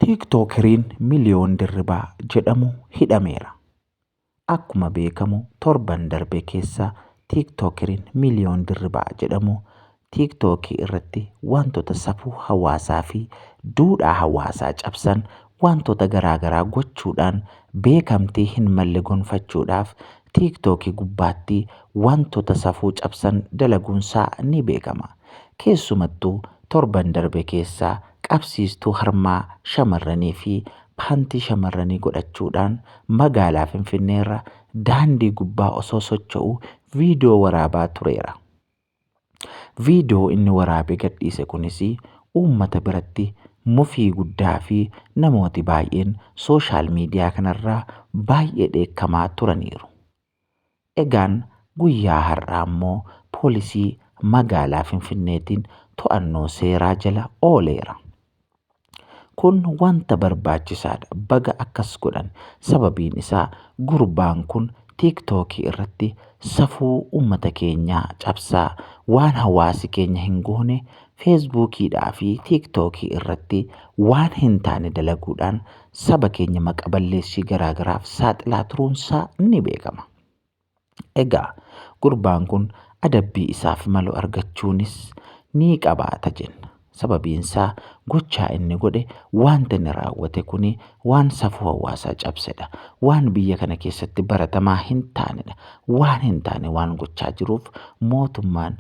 Tiiktookeriin Miliyoon Dirribaa jedhamu hidhameera. Akkuma beekamu torban darbe keessa tiiktookeriin Miliyoon Dirribaa jedhamu tiiktookii irratti wantoota safuu hawaasaa fi duudhaa hawaasaa cabsan wantoota garaagaraa gochuudhaan beekamtii hin malle gonfachuudhaaf tiiktookii gubbaatti wantoota safuu cabsan dalaguunsaa ni beekama. Keessumattuu torban darbe keessa qabsiistuu harmaa shamarranii fi paantii shamarranii godhachuudhaan magaalaa Finfinneerra daandii gubbaa osoo socho'uu viidiyoo waraabaa tureera. Viidiyoo inni waraabee gadhiise kunis uummata biratti mufii guddaa fi namooti baay'een sooshaal miidiyaa kanarraa baay'ee dheekkamaa turaniiru. Egaan guyyaa har'aa immoo poolisii magaalaa Finfinneetiin to'annoo seeraa jala ooleera. Kun wanta barbaachisaadha baga akkas godhan sababiin isaa gurbaan kun tiiktookii irratti safuu uummata keenyaa cabsaa waan hawaasi keenya hin goone Feesbuukiidhaa fi Tiiktookii irratti waan hin taane dalaguudhaan saba keenya maqa balleessii garaa garaaf saaxilaa turuunsaa ni beekama. Egaa gurbaan kun adabbii isaaf malu argachuunis ni qabaata jenna. Sababiinsaa gochaa inni godhe wanta inni raawwate kuni waan safuu hawaasaa cabsedha. Waan biyya kana keessatti baratamaa hin taanedha. Waan hin taane waan gochaa jiruuf mootummaan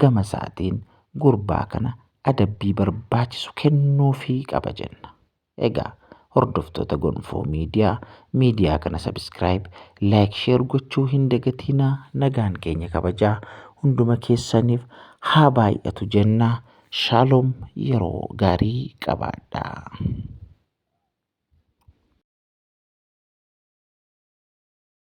gama isaatiin gurbaa kana adabbii barbaachisu kennuufii qaba jenna. Egaa hordoftoota Gonfoo Miidiyaa miidiyaa kana sabiskiraayib, laayik, sheer gochuu hin dagatiinaa nagaan keenya kabajaa hunduma keessaniif haa baay'atu jenna. Shaaloom yeroo gaarii qabaadhaa.